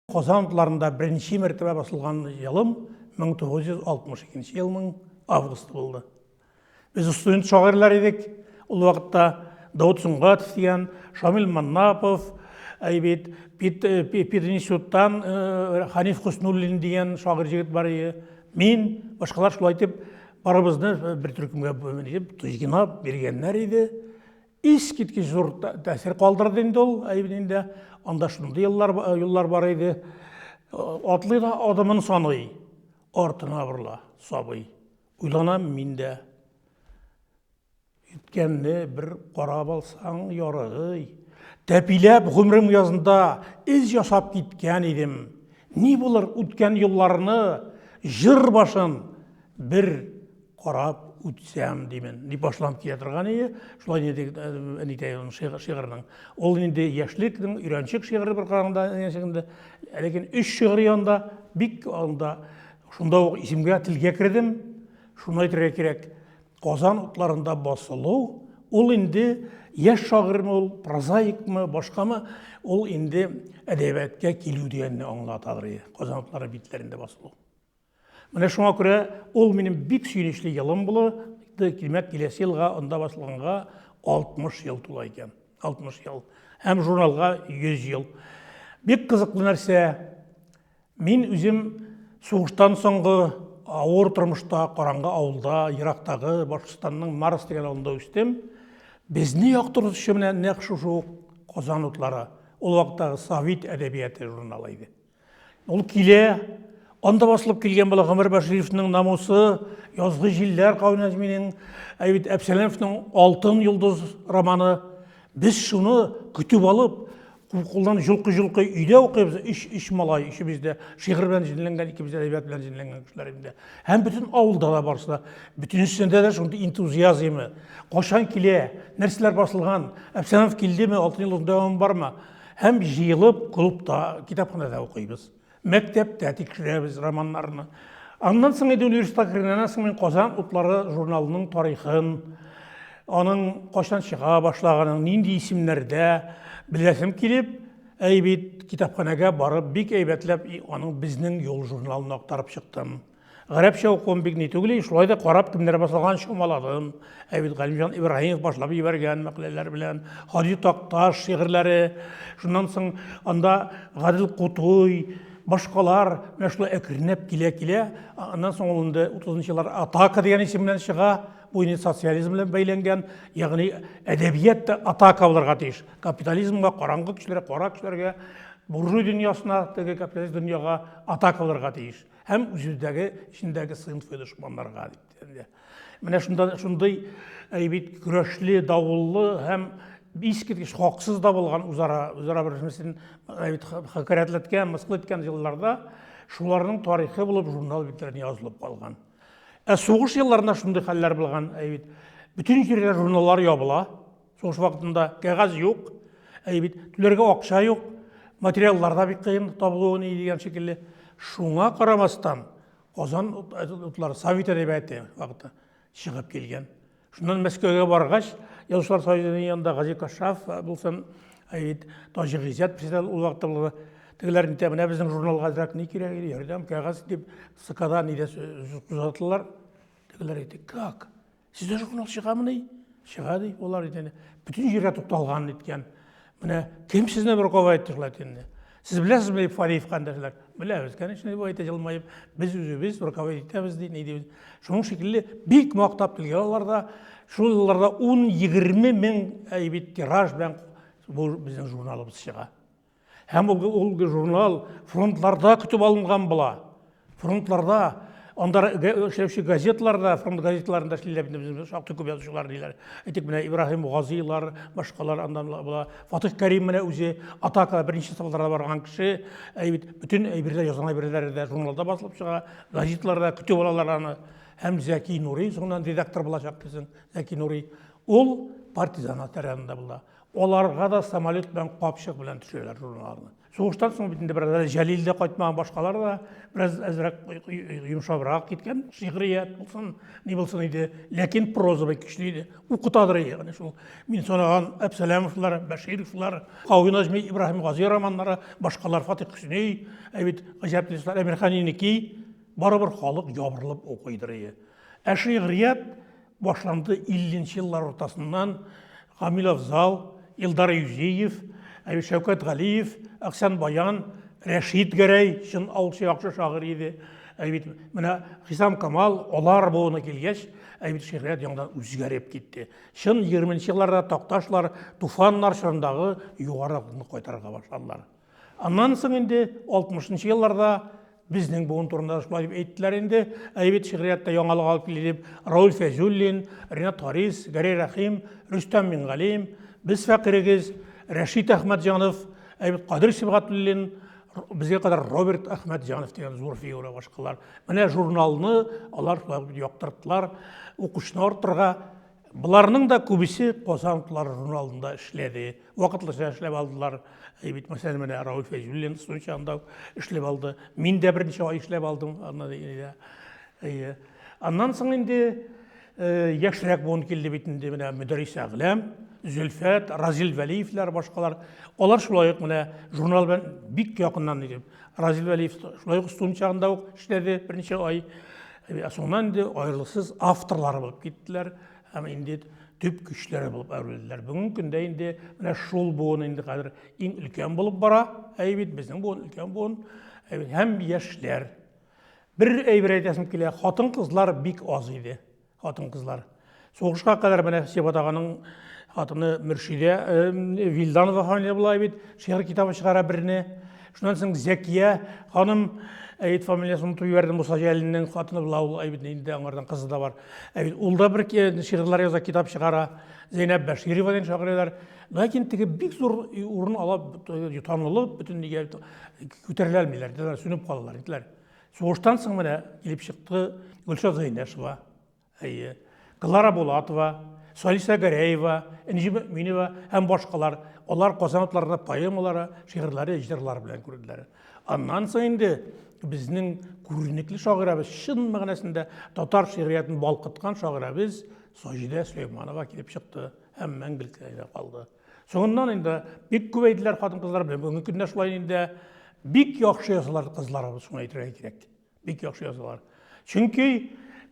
Казан утларында беренче мәртәбә басылган елым 1962 елның августы булды. Без студент шагыйрьләр идек. Ул вакытта Даут Сөнгатов дигән, Шамил Маннапов, әйбит, Пит, э, Пит институттан э, Ханиф Хуснуллин дигән шагыйрь җегет бар иде. Мин, башкалар шулай итеп, барыбызны э, бер төркемгә итеп, тузгинап биргәннәр иде. Искиткеч зур тәэсир калдырды инде ул, әйбен инде. Анда шундый еллар, юллар бар иде. Атлый да адымын саный, артына борыла сабый. Уйланам мин дә. Үткәнне бер карап алсаң ярыгый. Тәпиләп гомерем язында эз ясап киткән идем. Ни булыр үткән юлларны, җыр башын бер карап үтсәм димен дип башланып килә торган ие шулай диде әнитәй аның шигырының ул инде яшьлекнең өйрәнчек шигыре бер караганда инде ләкин өч шигырь янында бик анда шунда ук исемгә телгә кердем шуны әйтергә кирәк казан утларында басылу ул инде яшь шагыйрьме ул прозаикмы башкамы ул инде әдәбиятка килү дигәнне аңлатадыр казан утлары битләрендә басылу Менә шуңа күрә ул минем бик сөенечле елым була, димәк, киләсе елга анда басылганга 60 ел тула икән. 60 ел. Һәм журналга 100 ел. Бик кызыклы нәрсә. Мин үзем сугыштан соңгы авыр тормышта, караңгы авылда, ерактагы Башкортстанның Марс дигән авылында үстем. Безне яктыртучы менә нәкъ шушы ук Казан утлары. Ул вакыттагы Совет әдәбияты журналы иде. Ул килә, анда басылып килгән була Гомер Башировның намусы, язгы җилләр кавы Нәзминең, әйбит Әпсәләмовның Алтын йолдыз романы. Без шуны көтеп алып, кулдан җолкы-җолкы өйдә укыйбыз, өч, өч малай, өчебез дә шигырь белән җенләнгән, икебез дә әйбәт белән җенләнгән кешеләр инде. Һәм бөтен авылда да барысы да, бөтенесендә дә шундый энтузиазмы, кашан килә, нәрсәләр басылган, Әпсәләмов килдеме, Алтын йолдыз дәвамы бармы? Һәм җыелып клубта, китапханәдә укыйбыз. Мәктәптә тикшерәбез романнарны. Аннан соң инде университетка кергәннән соң мин Казан утлары журналының тарихын, аның кайчан чыга башлаганын, нинди исемнәрдә беләсем килеп, әй бит китапханәгә барып бик әйбәтләп аның безнең юл журналын актарып чыктым. Гарәпчә укуым бик ни түгел, шулай да карап кемнәр басылган чамаладым. Ә бит Галимҗан Ибраһимов башлап җибәргән мәкаләләр белән, Хади Такташ шигырьләре, шуннан соң анда Гадел Кутуй, башкалар менә шулай әкренләп килә-килә, аннан соң ул инде 30 еллар атака дигән исем белән чыга, бу инде социализм белән бәйләнгән, ягъни әдәбият та атака булырга тиеш. Капитализмга, караңгы көчләргә, кара көчләргә, буржуй дөньясына, теге капиталист дөньяга атака булырга тиеш. һәм үзебездәге эчендәге сыйнф и дошманнарга дип дигәндә менә шунда шундый бит көрәшле давыллы һәм искиткеч хаксыз да булган үзара үзара бер нәрсәсен хәкәрәтләткән мыскыл иткән елларда шуларның тарихы булып журнал битләренә язылып калган ә сугыш елларында шундый хәлләр булган бит бөтен җирдә журналлар ябыла Сугыш вакытында кәгазь юк, әй бит түләргә акча юк, материаллар да бик кыен табылуы ни дигән шикелле. Шуңа карамастан, Казан утлары Совет әдәбияты вакыты чыгып килгән. Шуннан Мәскәүгә баргач, Язучылар союзының янында Гази Кашаф булсын, әй бит Таҗи Гыйззәт председатель ул вакытта булды. Тегеләр нитә, менә безнең журналга әзрәк ни кирәк, ярдәм, кәгазь дип, СКда нидә озатылар. Тегеләр әйтте, как? Сездә журнал чыгамы ди? Чыга ди, алар итене. Бүтән җиргә тукталган иткән. Менә кем сезне бер кова итте шулай итене? Сез беләсезме Фариев кандәшләр? Беләбез, конечно, дип әйтә җылмаеп. Без үзебез бер кова итәбез ди, ни дибез. Шуның шикелле бик мактап килгән алар да. Шул елларда 10-20 мең әйбит тираж белән бу безнең журналыбыз чыга. Һәм ул журнал фронтларда көтеп алынган була. Фронтларда, анда эшләүче газетларда, фронт газетларында эшлиләр бит безнең шактый күп язучылар диләр. Әйтик, менә Ибраһим Газилар, башкалар аннан була. Фатих Кәрим менә үзе атака беренче сафларда барган кеше. Әй бит бөтен әйберләр язган әйберләре дә журналда басылып чыга, газетларда көтеп алалар аны. Һәм Зәки Нури соңыннан редактор булачак дисең. Зәки Нури ул партизан атарында була. Аларга да самолет белән капчык белән төшәләр журналарны. Сугыштан соң бит инде бераз Җәлил дә кайтмаган, башкалар да бераз әзрәк йомшабрак киткән. Шигърият булсын, ни булсын иде, ләкин проза бик көчле иде. Укытадыр иде, менә шул мин санаган Әпсәләмовлар, Бәшировлар, Кави Наҗми, Ибраһим Гази романнары, башкалар Фатих Хөсни, ә бит гаҗәп дистәр Әмирхан Инеки, барыбер халык ябырылып укыйдыр иде. Ә шигърият башланды 50 нче еллар уртасыннан Гамил Афзал, Илдар Юзеев, ә Шәүкәт Галиев, Аксян Баян, Рәшид Гәрәй, чын аучы яхшы шагыйрь иде. Ә бит менә Хисам Камал алар буына килгәч, ә бит шигърият яңадан үзгәреп китте. Чын 20 нче елларда Такташлар, Туфаннар чорындагы югары акымны кайтарырга башладылар. Аннан соң инде 60 нчы елларда безнең буын турында шулай дип әйттеләр инде. Ә бит шигъриятта яңалык алып килде дип Рауль Фәйзуллин, Ренат Харис, Гәрәй Рәхим, Рөстәм Мингалим, без фәкырегез, Рәшит Әхмәтҗанов, ә бит Кадир Сибгатуллин, безгә кадәр Роберт Әхмәтҗанов дигән зур фигура башкалар. Менә журналны алар шулай дип яктырттылар, укучыны арттырырга Боларның да күбесе Казан утлары журналында эшләде. Вакытлыча эшләп алдылар. Э, бит мәсәлән, менә Рауль Фәйзуллин Сочи анда эшләп алды. Мин дә берничә ай эшләп алдым. Э, Аннан соң инде э, яшьрәк буын килде бит инде менә Мөдәрис Әгләм, Зөлфәт, Разил Вәлиевләр, башкалар. Алар шулай ук менә журнал белән бик якыннан иде. Разил Вәлиев шулай ук студент чагында ук эшләде берничә ай. Ә соңыннан инде аерылыксыз авторлары булып киттеләр һәм инде төп көчләре булып әверелделәр. Бүгенге көндә инде менә шул буын инде хәзер иң өлкән булып бара. Әй бит безнең буын өлкән буын һәм яшьләр. Бер әйбер әйтәсем килә, хатын-кызлар бик аз иде. хатын кызлар сугышка кадәр менә сибат аганың хатыны мөршидә вилданова ханым була бит шигырь китабы чыгара берне шуннан соң зәкия ханым әйт фамилиясын онытып җибәрдем муса җәлилнең хатыны була ул әйбит инде аңардан кызы да бар әйбит ул да бер шигырьләр яза китап чыгара зәйнәп бәширова дигән шагыйрәләр ләкин теге бик зур урын ала танылып бөтен нигә күтәрелә алмыйлар сүнеп калалар иделәр Сугыштан соң менә килеп чыкты Гөлшат Зәйнәшева, әйе, Клара Булатова, Салиса Гәрәева, Энҗе Мөминова һәм башкалар. Алар Казан атларында поэмалары, шигырьләре, җырлары белән күрделәр. Аннан соң инде безнең күренекле шагыйрәбез, чын мәгънәсендә татар шигъриятен балкыткан шагыйрәбез Саҗидә Сөләйманова килеп чыкты һәм мәңгелеккә калды. Соңыннан инде бик күп әйделәр хатын-кызлар белән. Бүгенге көндә шулай инде бик яхшы язалар кызларыбыз, шуны әйтергә кирәк. Бик яхшы язалар. Чөнки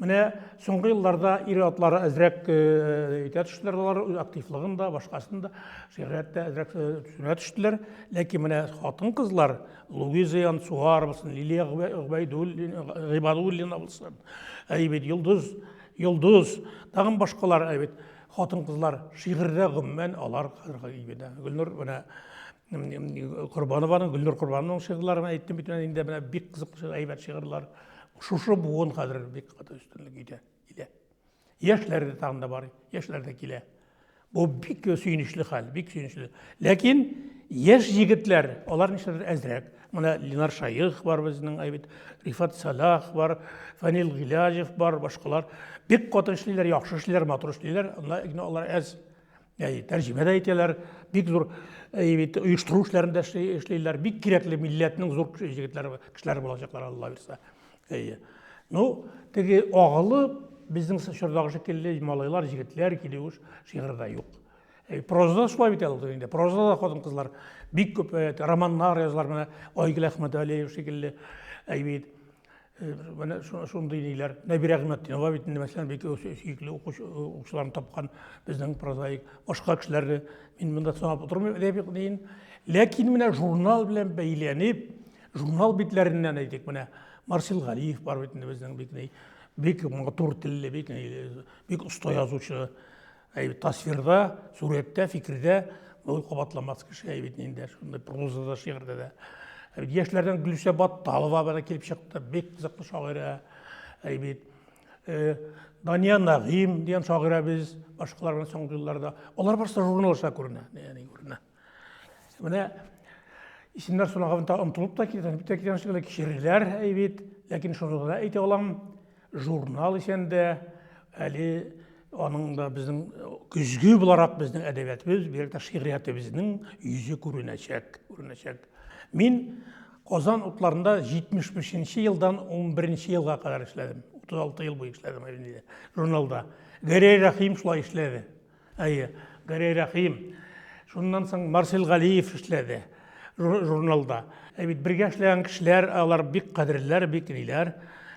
менә соңгы елларда ир атлары әзрәк итә э, төштеләр алар, активлыгын да, башкасын да, шигърият тә әзрәк э, төшенә төштеләр. Ләкин менә хатын-кызлар Луиза Янсуар булсын, Лилия Гыйбадуллина булсын, әйбит Йолдыз, Йолдыз, тагын башкалар әйбит. хатын-кызлар шигырьдә гомумән алар хәзерге ибедә. Гөлнур менә Корбанованың, Гөлнур Корбанованың шигырьләре менә әйттем бит инде менә бик кызыклы әйбәт шигырьләр. Шушы буын хәзер бик каты өстенлек итә, килә. Яшьләр дә тагын да бар, яшьләр дә килә. Бу бик сөенечле хәл, бик сөенечле. Ләкин яшь егетләр, алар нишләдер әзрәк. Менә Ленар Шаих бар безнең, әй бит, Рифат Сәлах бар, Фәнил Гыйләҗев бар, башкалар. Бик каты эшлиләр, яхшы эшлиләр, матур эшлиләр. Ләкин алар әз. Әй, тәрҗемә дә итәләр, бик зур әй бит, оештыру эшләрендә эшлиләр. Бик кирәкле милләтнең зур җегетләр, кешеләр булачаклар, Алла бирсә. Әй. Ну, теге агылып, безнең чордагы шикелле малайлар, җегетләр килү шигырьдә юк. Э, прозада шулай бит әле инде прозада да хатын кызлар бик күп э, романнар язалар менә айгөл әхмәтәлиев шикелле әйбит э, менә шундый ниләр нәбирә гыймәтдинова бит инде мәсәлән бик сөекле укучыларын тапкан безнең прозаик башка кешеләрне мин монда санап утырмыйм әдәби диен ләкин менә журнал белән бәйләнеп журнал битләреннән әйтик менә марсел галиев бар бит инде безнең бик бик матур телле бик бик оста язучы Әй, тасвирда, сурәттә, фикердә ул кабатламас кеше әй бит инде, шундый прозада, шигырьдә дә. Әй, яшьләрдән Гөлүсә Батталова бара килеп чыкты, бик кызыклы шагыйрә. Әй бит э, Дания Нагыйм дигән шагыйрәбез, башкалар белән соңгы елларда. Алар барысы журналда күренә, ягъни күренә. Менә исемнәр сораганда онтылып та китә, бит китә шикелле кичереләр әйбит, ләкин шуны гына әйтә алам, журнал исән дә, әле аның да безнең көзге буларак безнең әдәбиятыбыз, бигрәк тә шигъриятебезнең йөзе күренәчәк, күренәчәк. Мин Казан утларында 75 елдан 11 елга кадәр эшләдем. 36 ел буе эшләдем журналда. Гәрәй Рәхим шулай эшләде. Әйе, Гәрәй Рәхим. Шуннан соң Марсел Галиев эшләде журналда. Ә бит бергә эшләгән кешеләр, алар бик кадерләр, бик ниләр.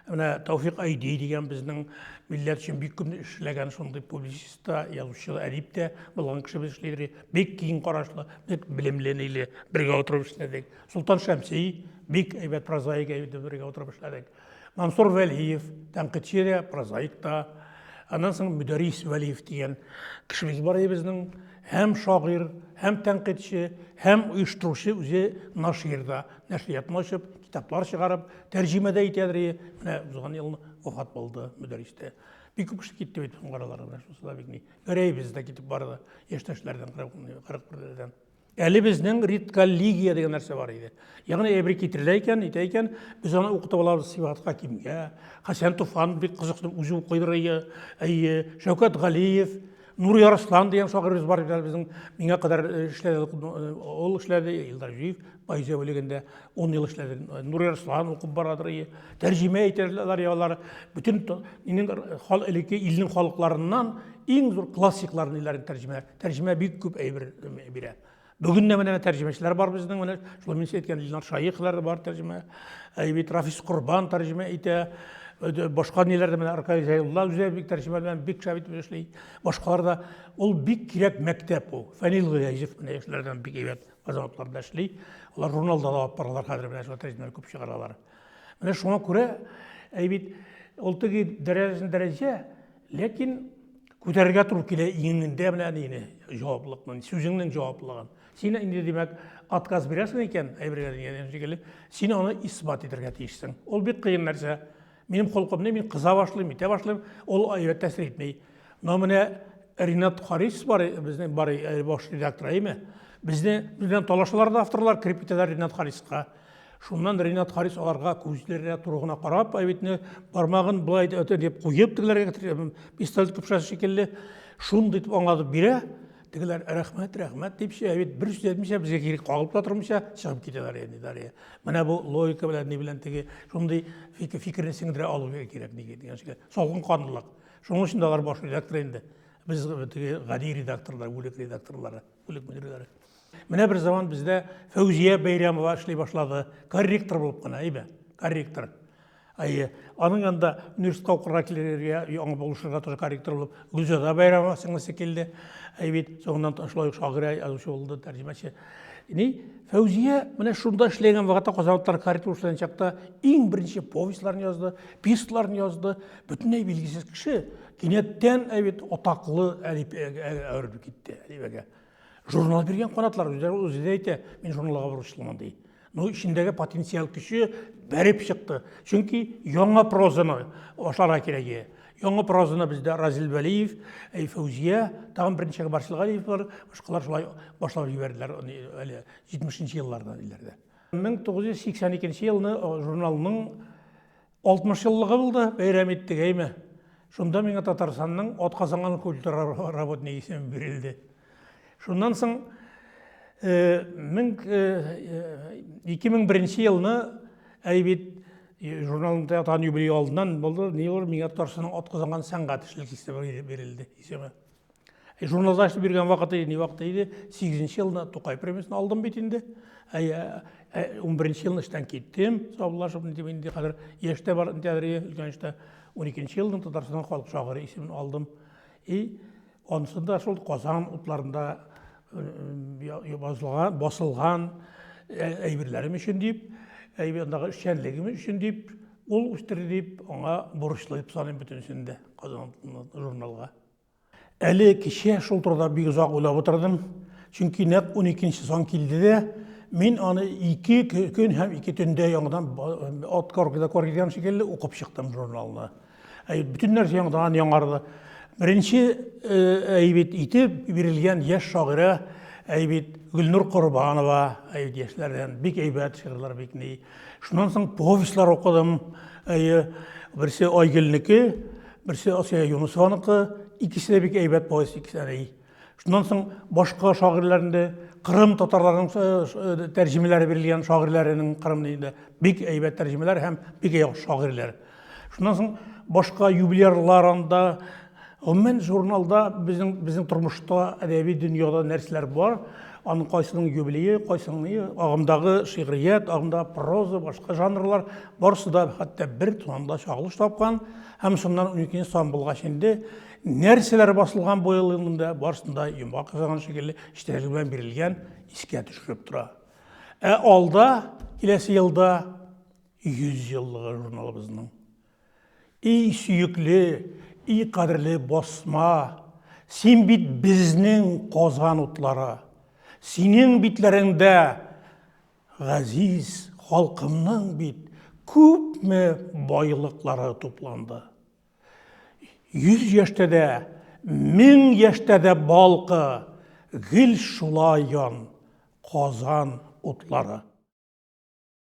Менә Тауфик Айди дигән безнең милләт өчен бик күп эшләгән шундый публицист та, язучы да, әдип тә булган кеше без эшли Бик киң карашлы, бик белемле ниле бергә утырып эшләдек. Солтан Шәмси бик әйбәт прозаик әйбәт бергә утырып эшләдек. Мансур Вәлиев, тәнкыйтьче дә, прозаик та. Аннан соң Мөдәрис Вәлиев дигән кешебез бар иде безнең. Һәм шагыйрь, һәм тәнкыйтьче, һәм оештыручы үзе нашир да. Нәшриятны ачып, китаплар чыгарып, тәрҗемә дә итәдер. Менә узган ел вафат булды Мөдәрис тә. Бик күп кеше китте бит соңгы араларда. Шусы да бик ни. Гәрәевыз да китеп барды. Яшьтәшләрдән, 41-дән. Әле безнең редколлегия дигән нәрсә бар иде. Ягъни әйбер китерелә икән, әйтә икән, без аны укытып алабыз Сибгат Хакимгә. Хәсән Туфан бик кызыклы үзе укыйдыр әйе. Әйе, Шәүкәт Галиев, Нур Ярслан дигән шагыйрыбыз бар иде безнең. Миңа кадәр э, эшләде, э, ул эшләде, Илдар Җиев поэзия бүлегендә 10 ел эшләде. Э, Нур Ярслан укып барадыр әйе. Тәрҗемә итәләр ялар. Бөтен минем элекке илнең халыкларыннан иң зур классикларны иләрен тәрҗемә Тәрҗемә бик күп әйбер бирә. Бүген дә менә тәрҗемәчеләр бар безнең, менә шул мин әйткән Илнар Шаихлар бар тәрҗемә. Әйбит Рафис Корбан тәрҗемә итә. Башка ниләр дә менә Аркай Зәйулла үзе бик тәрҗемә белән бик шәп итеп эшли. Башкалар да ул бик кирәк мәктәп ул. Фәнил Гыязев менә яшьләрдән бик әйбәт азаматларда эшли. Алар журналда да алып баралар хәзер менә шул тәрҗемәләр күп чыгаралар. Менә шуңа күрә әйбит ул теге дәрәҗәсен дәрәҗә, ләкин Күтәрергә туры килә иңеңдә менә әнине җаваплылыкны, сүзеңнең җаваплылыгын. Син инде димәк отказ бирәсең икән, әйбергә дигән шикелле, син аны исбат итәргә тиешсең. Ул бик кыен нәрсә. Минем холкымны мин кыза башлыйм, итә башлыйм, ул әйбәт тәсир итми. Но менә Ринат Харис бар, безнең бар баш редактор, әйме? Безне белән талашалар да авторлар, кирип китәләр Ринат Хариска. Шуннан Ренат Харис аларга күзләренә туры гына карап, әбитне бармагын болай да өтә дип куеп тегеләргә китерә, пистолет көпшәсе шикелле, шундый итеп аңлатып бирә. Тегеләр рәхмәт, рәхмәт дип әбит бер сүз әйтмичә, безгә кире кагылып та тормыйча чыгып китәләр инде Дарья. Менә бу логика белән ни белән теге шундый фикерне сеңдерә алу кирәк диген дигән шикелле. Салкын канлылык. Шуның өчен дә алар баш редактор инде. Без теге гади редакторлар, бүлек редакторлары. үлеп бетерүләре. Менә бер заман бездә Фәүзия Бәйрәмова эшли башлады. Корректор булып кына, әйбә, корректор. Әйе, аның янында университетка укырга килергә, яңа булышырга тоже корректор булып, Гүлзада Бәйрәмова сеңлесе килде. Әй бит, соңыннан шулай ук шагыйрә язучы булды, тәрҗемәче. Ни, Фәүзия менә шунда эшләгән вакытта Казанлыклар корректор эшләгән чакта иң беренче повестьларын язды, пьесаларын язды, бөтенләй билгесез кеше. Кинәттән әбит атаклы әлифбәгә әверелеп китте, әлифбәгә. Журнал биргән канатлар үзләре үзе дә әйтә, мин журналга бурычлымын ди. Ну, эчендәге потенциал көче бәреп чыкты. Чөнки яңа прозаны башларга кирәк иде. Яңа прозаны бездә Разил Вәлиев, э, Фәүзия, тагын берничә Барсил Галиевлар, башкалар шулай башлап җибәрделәр аны әле 70 нче елларда диләрдә. 1982 елны э, журналның 60 еллыгы булды, бәйрәм иттек, әйме. Шунда миңа Татарстанның атказанган культура работнигы исеме бирелде. Шуннан соң 2001 елны әйбит журналның тәтан юбилей алдыннан булды, не булды, миңа Татарстанның атказанган сәнгать эшлек исеме бирелде, исеме. Э, журналда эшләп йөргән вакыты иде, ни вакыты иде, 8 нче елда Тукай премиясен алдым бит инде. Ә 11 елны эштән киттем, саубуллашып, дип инде хәзер яшьтә бар, тәдриге өлкән эштә 12 елның Татарстан халык шагыйре исемен алдым. И онсында шул Казан утларында э, басылган, басылган э, әйберләрем өчен дип, әйбердагы эшчәнлегем өчен дип, ул үстерде дип, аңа бурычлы дип саныйм бөтенесен дә Казан журналга. Әле кичә шул турыда бик озак уйлап утырдым, чөнки нәкъ уникенче сан килде дә, мин аны ике көн һәм ике төндә яңадан от корки до корки дигән шикелле укып чыктым журналны. Ә бөтен нәрсә яңадан яңарды. Беренче әйбит итеп бирелгән яшь шагыйрә әйбит Гөлнур Корбанова әйбит яшьләрдән бик әйбәт шигырьләр бик ни. Шуннан соң повестьлар укыдым. Әйе, берсе Айгөлнеке, берсе Асия Юнусованыкы, икесе дә бик әйбәт повесть икесе дә. Шуннан соң башка шагыйрьләрне, Кырым татарларының э, э, тәрҗемәләре бирелгән шагыйрьләренең Кырым дигәндә бик әйбәт тәрҗемәләр һәм бик яхшы шагыйрьләр. Шуннан соң башка юбилярлар анда, гомумән журналда безнең безнең тормышта әдәби дөньяда нәрсәләр бар, аның кайсының юбилее, кайсының агымдагы шигърият, агымдагы проза, башка жанрлар барысы да хәтта бер санда чагылыш тапкан һәм шуннан 12 сан булгач инде нәрсәләр басылган бу ел монда барысында йомга казаган шикелле эчтәлек белән бирелгән искә төшереп тора. Ә алда киләсе елда 100 еллыгы журналыбызның и сөекле, и кадерле басма, син бит безнең Казан утлары. Синең битләреңдә газиз халкымның бит күпме байлыклары тупланды. 100 яшьтә дә, 1000 яшьтә дә балкы, гел шулай ян, Казан утлары.